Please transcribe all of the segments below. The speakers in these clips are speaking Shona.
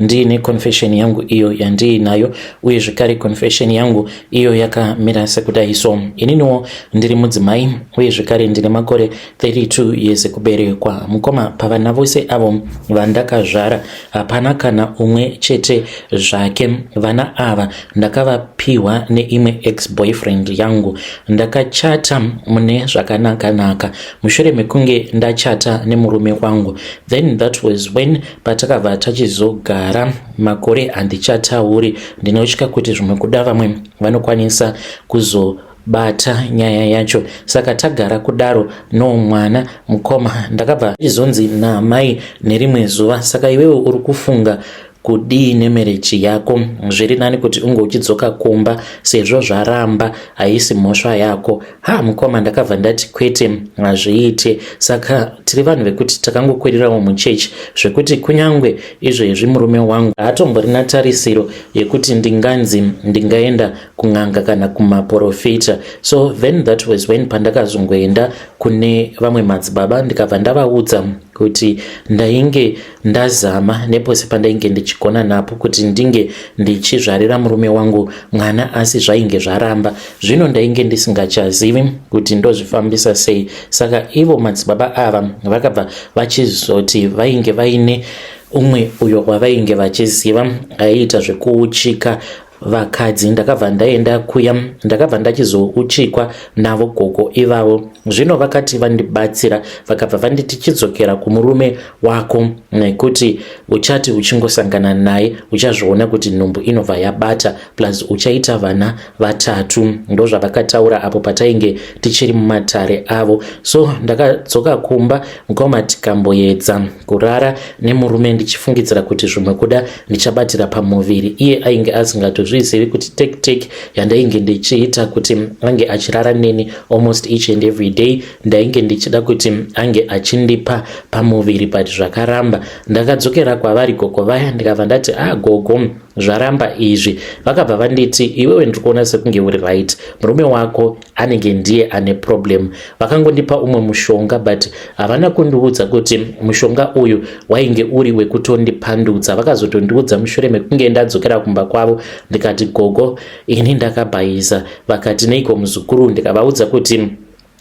Ndiine confession yangu iyo yandiinayo uye zvekare confession yangu iyo yakamira sekudai so ininiwo ndiri mudzimai uye zvekare ndine makore 32 years kuberekwa mukoma pavana vose avo vandakazvara hapana kana umwe chete zvake vana ava ndakavapiwa neimwe ex boyfriend yangu ndakachata mune zvakanakanaka mushure mekunge ndachata nemurume wangu then that was when patakabva tachizogara makore handichatauri ndinotya kuti zvimwe kuda vamwe vanokwanisa kuzo bata nyaya yacho saka tagara kudaro no mwana mukoma ndakabva izonzi naamai nerimwe zuva saka iwewe uri kufunga kudii nemereji yako zviri nani kuti unge uchidzoka kumba sezvo zvaramba haisi mhosva yako ha mukoma ndakabva ndati kwete hazviite saka tiri vanhu vekuti takangokwererawo muchechi zvekuti kunyange izvezvi murume wangu haatomborina tarisiro yekuti ndinganzi ndingaenda kun'anga kana kumaporofita so then that was when pandakazongoenda kune vamwe madzibaba ndikabva ndavaudza kuti ndainge uh, Ndazama nepose pandainge ndichigona napo kuti ndinge ndichizvarira murume wangu mwana asi zvainge zvaramba. Zvino ndainge ndisingachazivi kuti ndozvifambisa sei. Saka ivo madzibaba ava vakabva vachizoti vainge vaine umwe uyo wavainge vachiziva aiita zvekuuchika vakadzi ndakabva ndaenda kuya ndakabva ndachizouchikwa navo gogo ivavo zvino vakati vandibatsira vakabva vanditi chidzokera kumurume wako nekuti uchati uchingosangana naye uchazviona kuti nhumbu inobva yabata plus uchaita vana vatatu ndozvavakataura apo patainge tichiri mumatare avo so ndakadzoka kumba mukoma tikamboedza kurara nemurume ndichifungidzira kuti zvimwe kuda ndichabatira pamuviri iye ainge asingatozvizivi kuti tactic yandainge ndichiita kuti ange achirara neni almost each and every day ndainge ndichida kuti ange achindipa pamuviri but zvakaramba ndakadzokera kwavari gogo vaya ndikabva ndati ah gogo zvaramba izvi vakabva vanditi iwewe ndiri kuona sekunge uri right murume wako anenge ndiye ane problem vakangondipa umwe mushonga but havana kundiudza kuti mushonga uyu wainge uri wekutondipandudza vakazotondiudza mushure mekunge ndadzokera kumba kwavo ndikati gogo ini ndakabhaiza vakati neiko muzukuru ndikavaudza kuti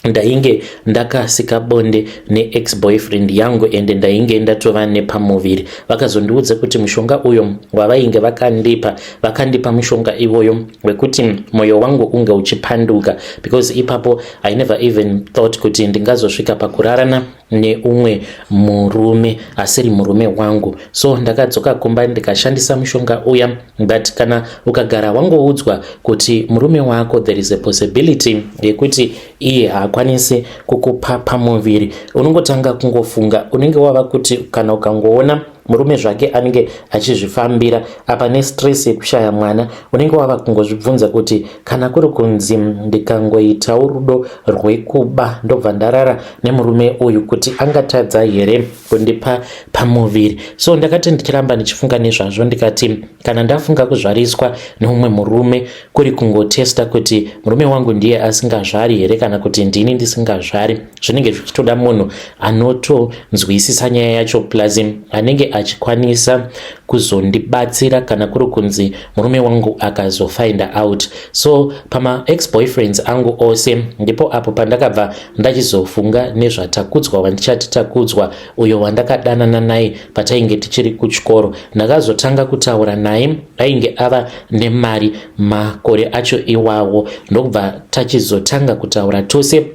ndainge ndakasika bonde neex boyfriend yangu ende ndainge ndatova nepamuviri vakazondiudza kuti mushonga uyo wavainge vakandipa vakandipa mushonga ivoyo wekuti moyo wangu unge uchipanduka because ipapo i never even thought kuti ndingazosvika pakurarana neumwe murume asiri murume wangu so ndakadzoka kumba ndikashandisa mushonga uya but kana ukagara wangoudzwa kuti murume wako there is a possibility yekuti iye haakwanisi kukupa pamuviri unongotanga kungofunga unenge wava kuti kana ukangoona murume zvake anenge achizvifambira apa nestress yekushaya mwana unenge wava kungozvibvunza kuti kana kuri kunzi ndikangoitawo rudo rwekuba ndobva ndarara nemurume uyu kuti angatadza here kundipa pamuviri so ndakati ndichiramba ndichifunga nezvazvo ndikati kana ndafunga kuzvariswa neumwe murume kuri kungotesta kuti murume wangu ndiye asingazvari here kana kuti ndini ndisingazvari zvinenge zvichitoda munhu anotonzwisisa nyaya yacho plus anenge achikwanisa kuzondibatsira kana kuri kunzi murume wangu akazofinder out so pamaex boyfriends angu ose ndipo apo pandakabva ndachizofunga nezvatakudzwa wandichati takudzwa uyo wandakadanana naye patainge tichiri kuchikoro ndakazotanga kutaura naye ainge ava nemari makore acho iwawo ndokubva tachizotanga kutaura tose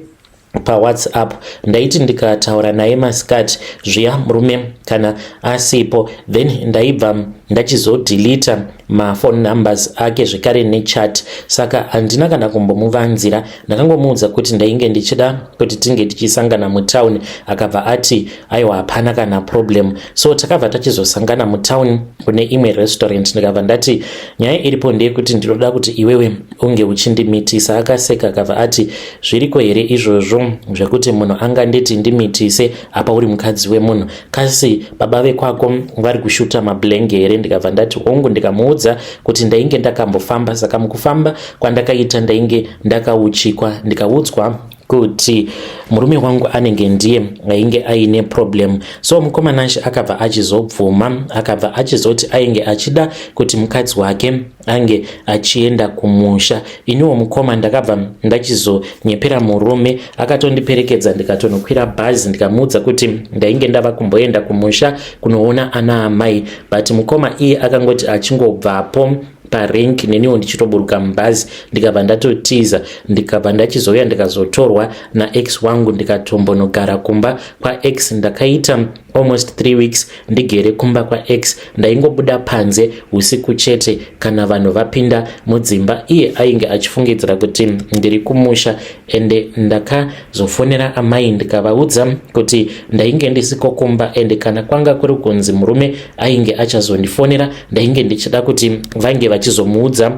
pawhatsapp ndaiti ndikataura naye masikati zviya murume kana asipo then ndaibva ndachizodhilita mafone numbers ake zvekare nechat saka handina kana kumbomuvanzira ndakangomuudza kuti ndainge ndichida kuti tinge tichisangana mutown akabva ati aiwa hapana kana problem so takabva tachizosangana mutown kune imwe restaurant ndikabva ndati nyaya iripo ndeyekuti ndinoda kuti iwewe unge uchindimitisa akaseka akabva ati zviriko here izvozvo zvekuti munhu anganditi ndimitise apa uri mukadzi wemunhu kasi baba vekwako vari kushuta mablenge here ndikabva ndati hongu ndikamuudza kuti ndainge ndakambofamba saka mukufamba kwandakaita ndainge ndakauchikwa ndikaudzwa kuti murume wangu anenge ndiye ainge aine problem so mukomana she akabva achizobvuma akabva achizoti ainge achida kuti mukadzi wake ange achienda kumusha iniwo mukoma ndakabva ndachizonyepera murume akatondiperekedza ndikatonokwira bhazi ndikamuudza kuti ndainge ndava kumboenda kumusha kunoona ana amai but mukoma iye akangoti achingobvapo parink neniwo ndichitoburuka mubhazi ndikabva ndatotiza ndikabva ndachizouya ndikazotorwa naex wangu ndikatombonogara kumba kwaex ndakaita almost three weeks ndigere kumba kwax ndaingobuda panze usiku chete kana vanhu vapinda mudzimba iye ainge achifungidzira kuti ndiri kumusha ende ndakazofonera amai ndikavaudza kuti ndainge ndisiko kumba ende kana kwanga kuri kunzi murume ainge achazondifonera ndainge ndichida kuti vange vachizomuudza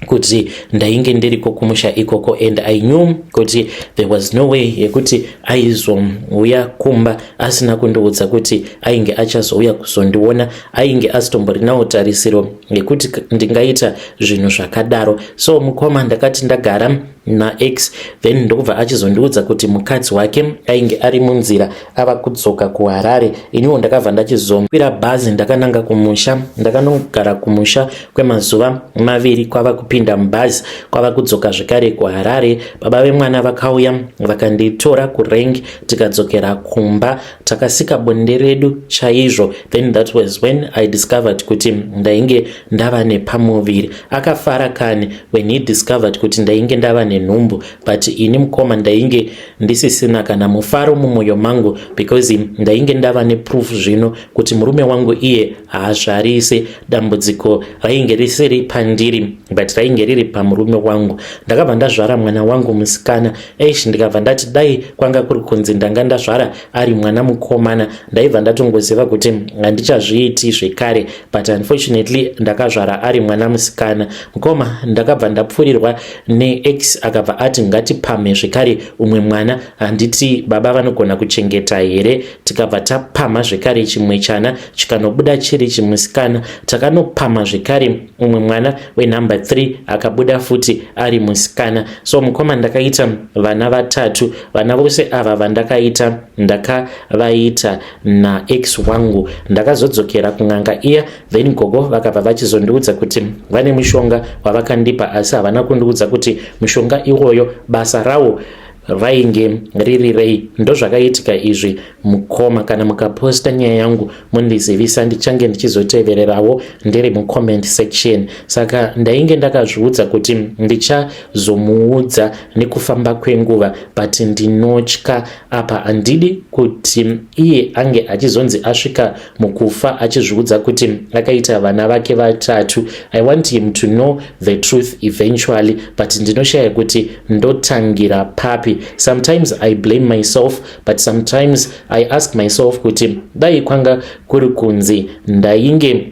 kuti ndainge ndiriko kumusha ikoko and i knew kuti there was no way yekuti aizouya kumba asina kundiudza kuti ainge achazouya kuzondiona ainge asitomborinawo tarisiro yekuti ndingaita zvinhu zvakadaro so mukoma ndakati ndagara nax then ndokubva achizondiudza kuti mukadzi wake ainge ari munzira ava kudzoka kuharare iniwo ndakabva ndachizokwira bhazi ndakananga kumusha ndakanogara kumusha kwemazuva maviri kwava kupinda mubhazi kwava kudzoka zvekare kuharare baba vemwana vakauya vakanditora kurengi tikadzokera kumba takasika bonde redu chaizvo then that was when i discovered kuti ndainge ndava nepamuviri akafara kani when he discovered kuti ndainge ndava nenhumbu but ini mukoma ndainge ndisisina kana mufaro mumwoyo mangu because ndainge ndava neproof zvino kuti murume wangu iye haazvarise dambudziko rainge risiri pandiri but rainge riri pamurume wangu ndakabva ndazvara mwana wangu musikana eish ndikabva ndati dai kwanga kuri kunzi ndanga ndazvara ari mwana mukomana ndaibva ndatongoziva kuti handichazviiti zvekare but unfortunately ndakazvara ari mwana musikana mukoma ndakabva ndapfurirwa neex akabva ati ngatipamhe zvekare umwe mwana handiti baba vanogona kuchengeta here tikabva tapamha zvekare chimwe chana chikanobuda chiri chimusikana takanopamha zvekare mumwe mwana wenumber three akabuda futi ari musikana so mukoma ndakaita vana vatatu vana vose ava vandakaita ndakavaita naex wangu ndakazodzokera kun'anga iya then gogo vakabva vachizondiudza kuti vane mushonga wavakandipa asi havana kundiudza kuti mushonga iwoyo basa rawo vainge riri rei ndozvakaitika izvi mukoma kana mukaposta nyaya yangu mundizivisa ndichange ndichizotevererawo ndiri mucomment section saka ndainge ndakazviudza kuti ndichazomuudza nekufamba kwenguva but ndinotya apa handidi kuti iye ange achizonzi asvika mukufa achizviudza kuti akaita vana vake vatatu i want him to know the truth eventually but ndinoshaya kuti ndotangira papi sometimes i blame myself but sometimes i ask myself kuti dai kwanga kuri kunzi ndainge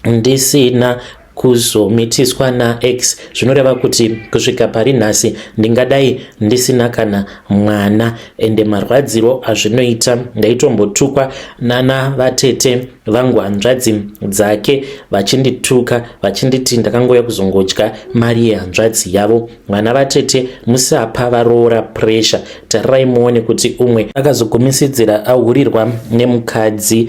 ndisina kuzomitiswa nax zvinoreva kuti kusvika pari nhasi ndingadai ndisina kana mwana ende marwadziro azvinoita ndaitombotukwa nana vatete vangu hanzvadzi dzake vachindituka vachinditi ndakangouya kuzongodya mari yehanzvadzi yavo vana vatete musapa varoora pressure tarirai muone kuti umwe akazogumisidzira ahurirwa nemukadzi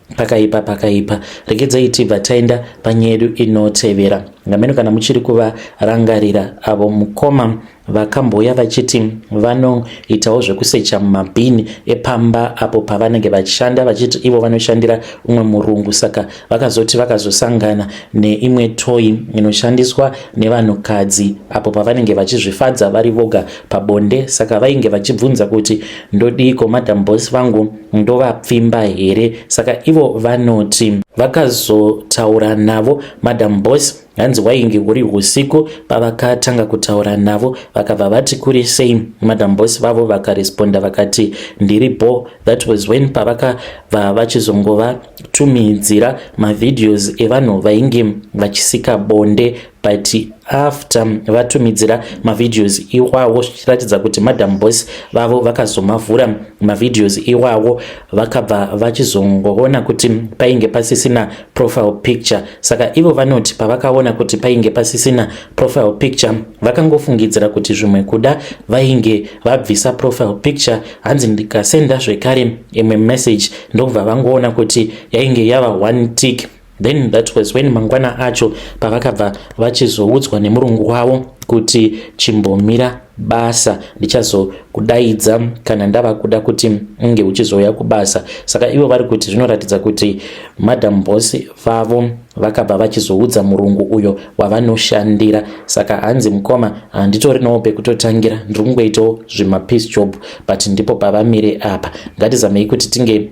pakaipa pakaipa regedzai tibva taenda panyaya yedu inotevera ngameno kana muchiri kuvarangarira avo mukoma vakamboya vachiti vanoitawo zvekusecha mumabhini epamba apo pavanenge vachishanda vachiti ivo vanoshandira umwe murungu saka vakazoti vakazosangana neimwe toyi inoshandiswa nevanhukadzi apo pavanenge vachizvifadza vari voga pabonde saka vainge vachibvunza kuti ndodiiko madam bos vangu ndovapfimba here saka ivo vanoti vakazotaura navo madam boss hanzi wainge uri usiku pavakatanga kutaura navo vakabva vati kuri sei madam boss vavo vakaresponda vakati ndiri bo that was when pavakabva vachizongovatumhidzira mavideos evanhu vainge vachisika bonde but after vatumidzira mavideos iwawo zvichiratidza kuti madam boss vavo vakazomavhura mavideos iwawo vakabva vachizongoona kuti painge pasisina profile picture saka ivo vanoti pavakaona kuti painge pasisina profile picture vakangofungidzira kuti zvimwe kuda vainge vabvisa profile picture hanzi ndikasenda zvekare imwe message ndokubva vangoona kuti yainge yava one tick Then that was when mangwana acho pavakabva vachizoudzwa nemurungu wavo kuti chimbomira basa ndichazokudaidza kana ndava kuda kuti unge uchizouya kubasa saka ivo vari kuti zvinoratidza kuti madam boss vavo vakabva vachizoudza murungu uyo wavanoshandira saka hanzi mukoma handitorinawo pekutotangira ndiri kungoitawo zvemapeace job but ndipo pavamire apa ngatizamei kuti tinge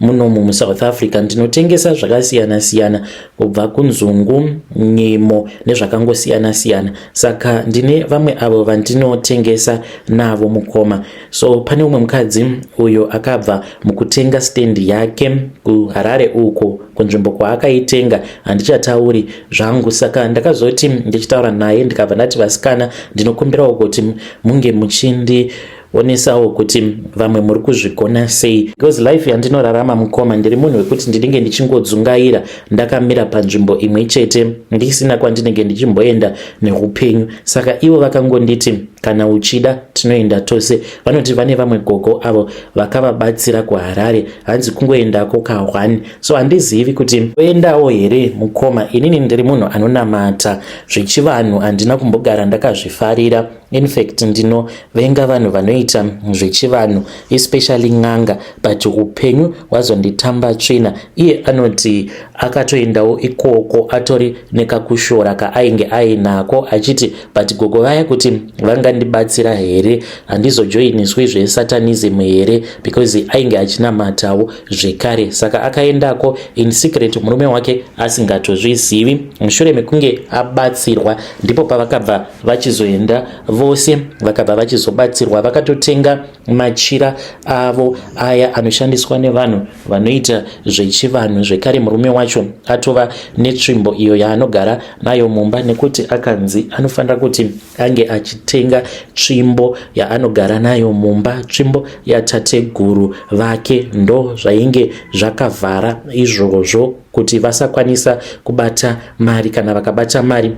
Munomu muSouth Africa ndinotengesa zvakasiyana siyana kubva kunzungu, nyimo nezvakangosiyana siyana. Saka ndine vamwe avo vandinotengesa navo mukoma. So pane umwe mukadzi uyo akabva mukutenga stand yake kuHarare uko kunzvimbo kwaakaitenga handichatauri zvangu saka ndakazoti ndichitaura naye ndikabva ndati vasikana ndinokumbirawo kuti munge muchindi onesawo kuti vamwe muri kuzvigona sei because life yandinorarama mukoma ndiri munhu wekuti ndinenge ndichingodzungaira ndakamira panzvimbo imwe chete ndisina kwandinenge ndichimboenda neupenyu saka ivo vakangonditi kana uchida tinoenda tose vanoti vane vamwe gogo avo vakavabatsira kuharare hanzi kungoendako kahwani so handizivi kuti oendawo here mukoma inini ndiri munhu anonamata zvechivanhu handina kumbogara ndakazvifarira In fact ndino venga vanhu vanoita zvechivanhu especially n'anga but upenyu wazonditamba tsvina iye anoti akatoendawo ikoko atori nekakushora kaainge ainako achiti but gogo vaya kuti vangandibatsira here handizojoiniswi zvesatanism here because ainge achinamatawo zvekare saka akaendako in secret murume wake asingatozvizivi mushure mekunge abatsirwa ndipo pavakabva vachizoenda vose vakabva vachizobatsirwa vakatotenga machira avo aya anoshandiswa nevanhu vanoita zvechivanhu zvekare murume wacho atova netsvimbo iyo yaanogara nayo mumba nekuti akanzi anofanira kuti ange achitenga tsvimbo yaanogara nayo mumba tsvimbo yatateguru vake ndo zvainge zvakavhara izvozvo kuti vasakwanisa kubata mari kana vakabata mari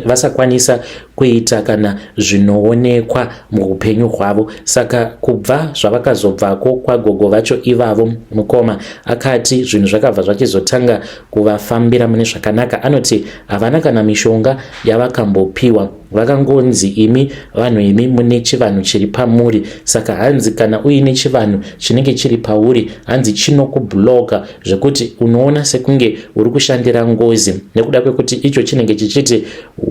vasakwanisa kuita kana zvinoonekwa muupenyu hwavo saka kubva zvavakazobvako kwagogo vacho ivavo mukoma akati zvinhu zvakabva zvachizotanga kuvafambira mune zvakanaka anoti havana kana mishonga yavakambopiwa Vakangonzi imi vanhu imi mune chivanhu chiri pamuri saka hanzi kana uine chivanhu chinenge chiri pauri hanzi chinokubhuloka zvekuti unoona sekunge uri kushandira ngozi nekuda kwekuti icho chinenge chichiti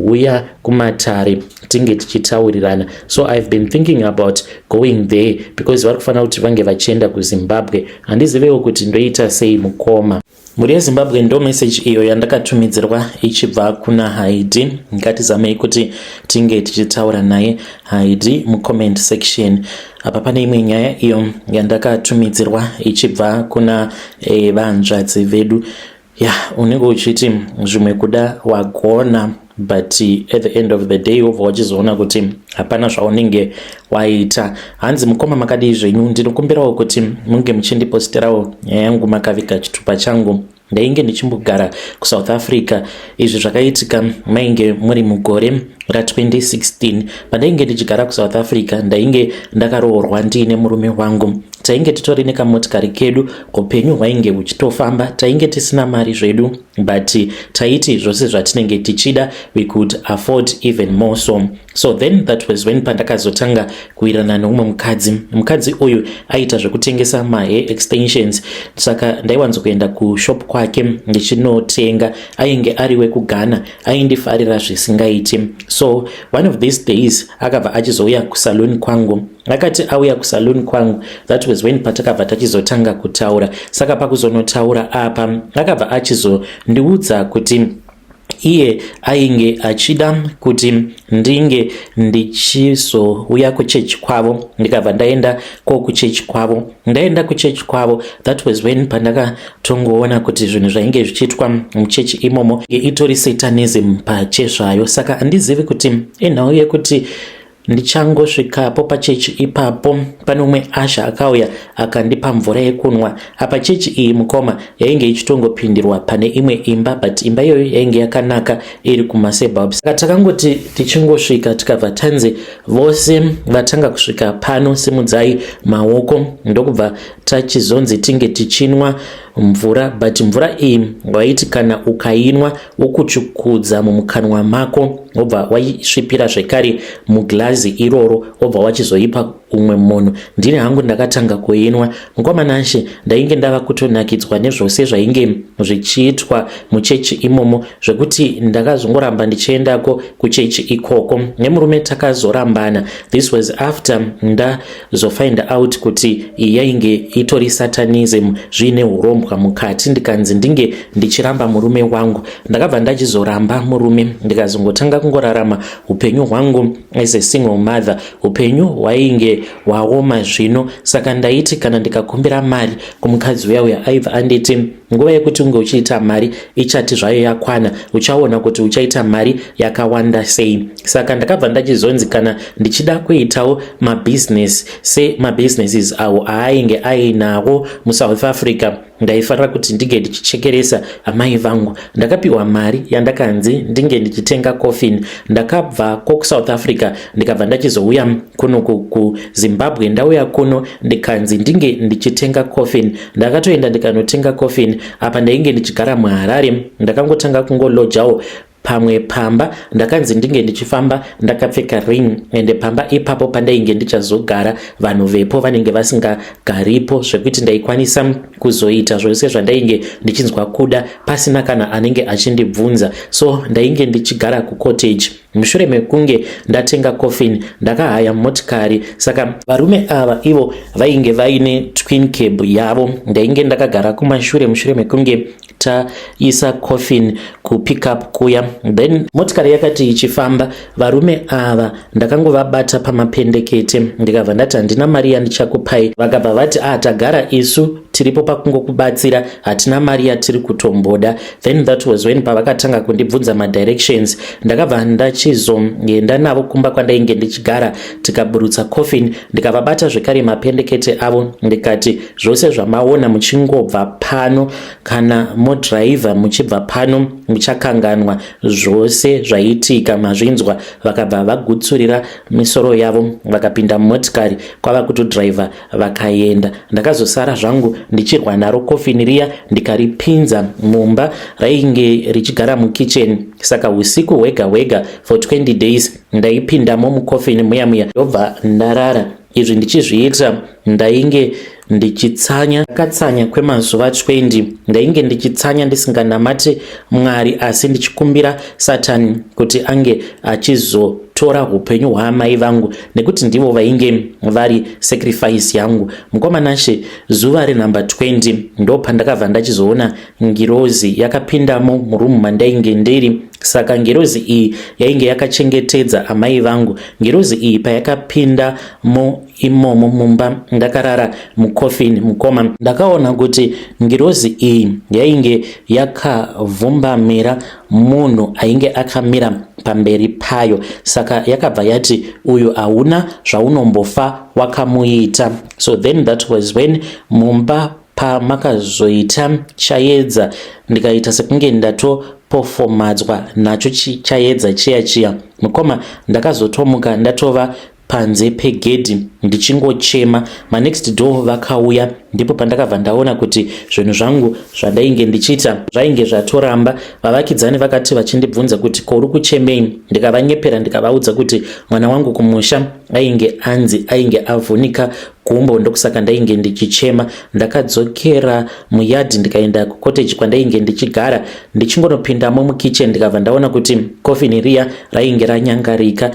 huya kumatare tinge tichitaurirana so ihave been thinking about going there because vari kufanira kuti vange vachienda kuzimbabwe handizivewo kuti ndoita sei mukoma Mhuri yeZimbabwe ndo message iyo yandakatumidzirwa ichibva kuna Haidi. Ngatizamei kuti tinge tichitaura naye Haidi mucomment section. Apa pane imwe nyaya iyo yandakatumidzirwa ichibva kuna eh, vanzvadzi vedu. Ya, yeah, unenge uchiti zvimwe kuda wagona. but at the end of the day wobva wachizoona kuti hapana zvaunenge waita hanzi mukoma makadii zvenyu ndinokumbirawo kuti munge muchindipostirawo nyaya yangu makaviga chitupa changu ndainge ndichimbogara kusouth africa izvi zvakaitika mainge muri mugore ra2016 pandainge ndichigara kusouth africa ndainge ndakaroorwa ndiine murume wangu tainge titori nekamotikari kedu upenyu hwainge huchitofamba tainge tisina mari zvedu but taiti zvose zvatinenge tichida we could afford even more so so then that was when pandakazotanga kuwirana neumwe mukadzi mukadzi uyu aiita zvekutengesa mahe extensions saka ndaiwanzo kuenda kushop kwake ndichinotenga ainge ari wekughana aindifarira zvisingaiti so one of these days akabva achizouya kusaloon kwangu akati auya kusaloon kwangu that was when patakabva tachizotanga kutaura saka pakuzonotaura apa akabva achizondiudza kuti iye ainge achida kuti ndinge ndichizouya kuchechi kwavo ndikabva ndaenda ko kuchechi kwavo ndaenda kuchechi kwavo that was when pandakatongoona kuti zvinhu zvainge zvichiitwa muchechi imomo itori satanism pachezvayo saka handizivi kuti inhau yekuti Ndichangosvikapo pachechi ipapo pane umwe asha akauya akandipa mvura yekunwa. Apa chechi iyi mukoma yainge ichitongopindirwa pane imwe imba but imba iyoyo yainge yakanaka iri kumaseburbs. Saka takangoti tichingosvika tikabva tanzi vose vatanga kusvika pano simudzai maoko ndokubva tachizonzi tinge tichinwa mvura but mvura iyi waiti kana ukainwa wokuchukudza mumukanwa mako wobva waisvipira zvekare muglazi iroro wobva wachizoipa umwe munhu ndini hangu ndakatanga kuinwa mukwamanashe ndainge ndava kutonakidzwa nezvose zvainge zvichiitwa muchechi imomo zvekuti ndakazongoramba ndichiendako kuchechi ikoko nemurume takazorambana this was after nda zofind out kuti iyi yainge itori satanism zviine urombwa mukati ndikanzi ndinge ndichiramba murume wangu ndakabva ndachizoramba murume ndikazongotanga kungorarama upenyu hwangu as a single mother upenyu hwainge hwaoma zvino saka ndaiti kana ndikakumbira mari kumukadzi uya uya aiva anditi Nguva yekuti unge uchiita mari ichati zvayo yakwana, uchaona kuti uchaita mari yakawanda sei. Saka ndakabva ndachizonzi kana ndichida kuitawo mabusiness semabusinesses awo aainge ainawo muSouth Africa ndaifanira kuti ndinge ndichichekeresa amai vangu. Ndakapiwa mari yandakanzi ndinge ndichitenga coffin. Ndakabva kokusouth Africa ndikabva ndachizouya kuno kuzimbabwe ndauya kuno ndikanzi ndinge ndichitenga coffin ndakatoenda ndikanotenga coffin apa ndainge ndichigara muharare ndakangotanga kungolojawo pamwe pamba ndakanzi ndinge ndichifamba ndakapfeka ring ende pamba ipapo pandainge ndichazogara vanhu vepo vanenge vasingagaripo zvekuti ndaikwanisa kuzoita zvose zvandainge ndichinzwa kuda pasina kana anenge achindibvunza so ndainge ndichigara kucottage Mushure mekunge ndatenga coffin ndakahaya motikari saka varume ava ivo vainge vaine twin cab yavo ndainge ndakagara kumashure mushure mekunge taisa coffin kupickup kuya then motikari yakati ichifamba varume ava ndakangovabata pamapendekete ndikabva ndati handina mari yandichakupai vakabva vati ah tagara isu tiripo pakungokubatsira hatina mari yatiri kutomboda then that was when pavakatanga kundibvunza madirections ndakabva ndachizoenda navo kumba kwandainge ndichigara tikaburutsa coffin ndikavabata zvekare mapendekete avo ndikati zvose zvamaona muchingobva pano kana modriver muchibva pano muchakanganwa zvose zvaiitika mazvinzwa vakabva vagutsurira misoro yavo vakapinda mumotikari kwava kutodriver vakaenda ndakazosara zvangu ndichirwa naro kofini riya ndikaripinza mumba rainge richigara mukitchen saka usiku hwega hwega for 20 days ndaipindamo mukofini muya muya ndobva ndarara izvi ndichizviita ndainge ndichitsanya katsanya kwemazuva 20 ndainge ndichitsanya ndisinganamati mwari asi ndichikumbira satani kuti ange achizotora upenyu hwaamai vangu nekuti ndivo vainge vari sacrifice yangu mukoma nashe zuva renumber 20 ndo pandakabva ndachizoona ngirozi yakapindamo murumu mandainge ndiri saka ngirozi iyi yainge yakachengetedza amai vangu ngirozi iyi payakapinda mo imomo mumba ndakarara mukofini mukoma ndakaona kuti ngirozi iyi yainge yakavhumbamira munhu ainge akamira pamberi payo saka yakabva yati uyu hauna zvaunombofa wakamuita so then that was when mumba pamakazoita chayedza ndikaita sekunge ndato pofomadzwa nacho chayedza chiya chiya mukoma ndakazotomuka ndatova panze pegedhi ndichingochema manext door vakauya ndipo pandakabva ndaona kuti zvinhu zvangu zvandainge ndichiita zvainge zvatoramba vavakidzani vakati vachindibvunza kuti kouri kuchemei ndikavanyepera ndikavaudza kuti mwana wangu kumusha ainge anzi ainge avhunika gumbo ndokusaka ndainge ndichichema ndakadzokera muyadhi ndikaenda kukoteji kwandainge ndichigara ndichingonopindamo mukitchen ndikabva ndaona kuti kofini riya rainge ranyangarika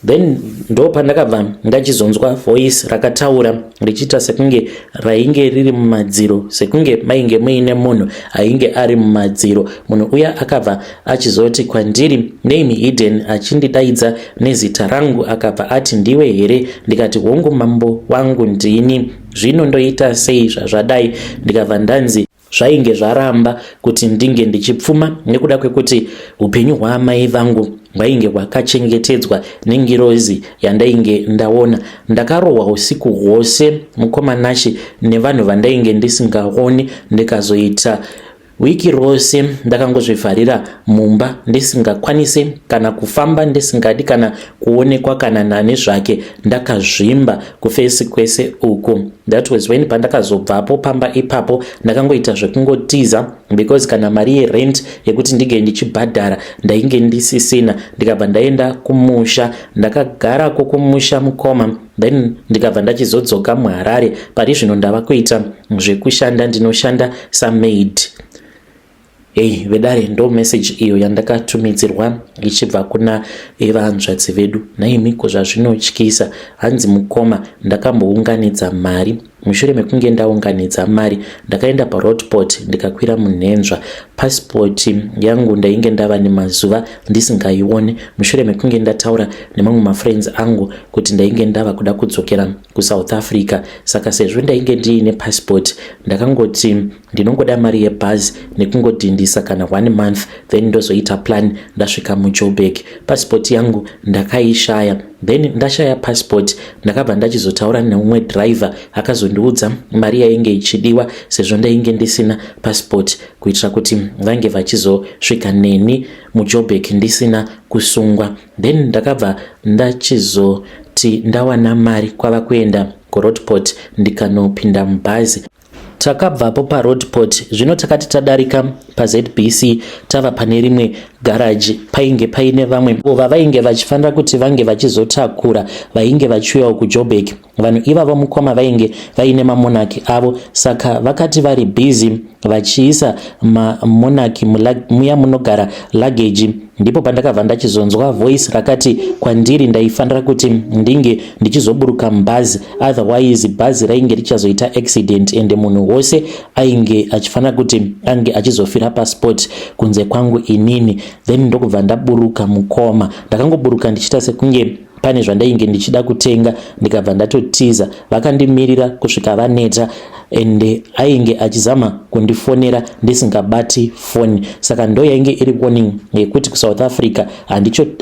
then ndo pandakabva ndachizonzwa voice rakataura richiita sekunge rainge riri mumadziro sekunge mainge muine munhu ainge ari mumadziro munhu uya akabva achizoti kwandiri name hidden achindidaidza nezita rangu akabva ati ndiwe here ndikati hongu mambo wangu ndini zvino ndoita sei zvazvadai ndikabva ndanzi Zvainge zvaramba kuti ndinge ndichipfuma nekuda kwekuti upenyu hwaamai vangu hwainge hwakachengetedzwa nengirozi yandainge ndaona. Ndakarohwa usiku hwose mukoma Nashe nevanhu vandainge ndisingaoni ndikazoita wiki rose ndakangozvivharira mumba ndisingakwanise kana kufamba ndisingadi kana kuonekwa kana nani zvake ndakazvimba kufesi kwese uku that was when pandakazobvapo pamba ipapo ndakangoita zvekungotiza because kana mari yerent yekuti ndige ndichibhadhara ndainge ndisisina ndikabva ndaenda kumusha ndakagara ko kumusha mukoma then ndikabva ndachizodzoka muharare pari zvino ndava kuita zvekushanda ndinoshanda samaid Hey, vedare ndo message iyo yandakatumidzirwa ichibva kuna evanzvadzi vedu naimi ko zvazvinotyisa hanzi mukoma ndakambounganidza mari mushure mekunge ndaunganidza mari ndakaenda parodport ndikakwira munhenzva passport yangu ndainge ndava nemazuva ndisingaione mushure mekunge ndataura nemamwe mafriends angu kuti ndainge ndava kuda kudzokera kusouth africa saka sezvo ndainge ndiine passport ndakangoti ndinongoda mari yebhazi nekungodhindisa kana one month then ndozoita plan ndasvika mujoburg passport yangu ndakaishaya then ndashaya passport ndakabva ndachizotaura neumwe driver akazondiudza mari yainge ichidiwa sezvo ndainge ndisina passport kuitira kuti vange vachizosvika neni mujoburg ndisina kusungwa then ndakabva ndachizoti ndawana mari kwava kuenda kuroadport ndikanopinda mubhazi Takabvapo paroadport zvino takati tadarika paZBC tava pane rimwe garaji painge paine vamwe vavainge vachifanira kuti vange vachizotakura vainge vachiuyawo kuJobek. Vanhu ivavo mukoma vainge vaine mamonaki avo saka vakati vari busy vachiisa mamonaki muya munogara luggage ndipo pandakabva ndachizonzwa voice rakati kwandiri ndaifanira kuti ndinge ndichizoburuka mubhazi otherwise bhazi rainge richazoita accident ende munhu wose ainge achifanira kuti ange achizofira pasport kunze kwangu inini then ndokubva ndaburuka mukoma ndakangoburuka ndichiita sekunge pane zvandainge ndichida kutenga ndikabva ndatotiza vakandimirira kusvika vaneta ende ainge achizama kundifonera ndisingabati foni saka ndo yainge iri warning yekuti kusouth africa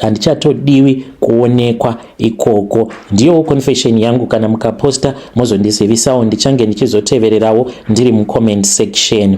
handichatodiwi kuonekwa ikoko ndiyowo confession yangu kana mukaposta mozondizivisawo ndichange ndichizotevererawo ndiri mucomment section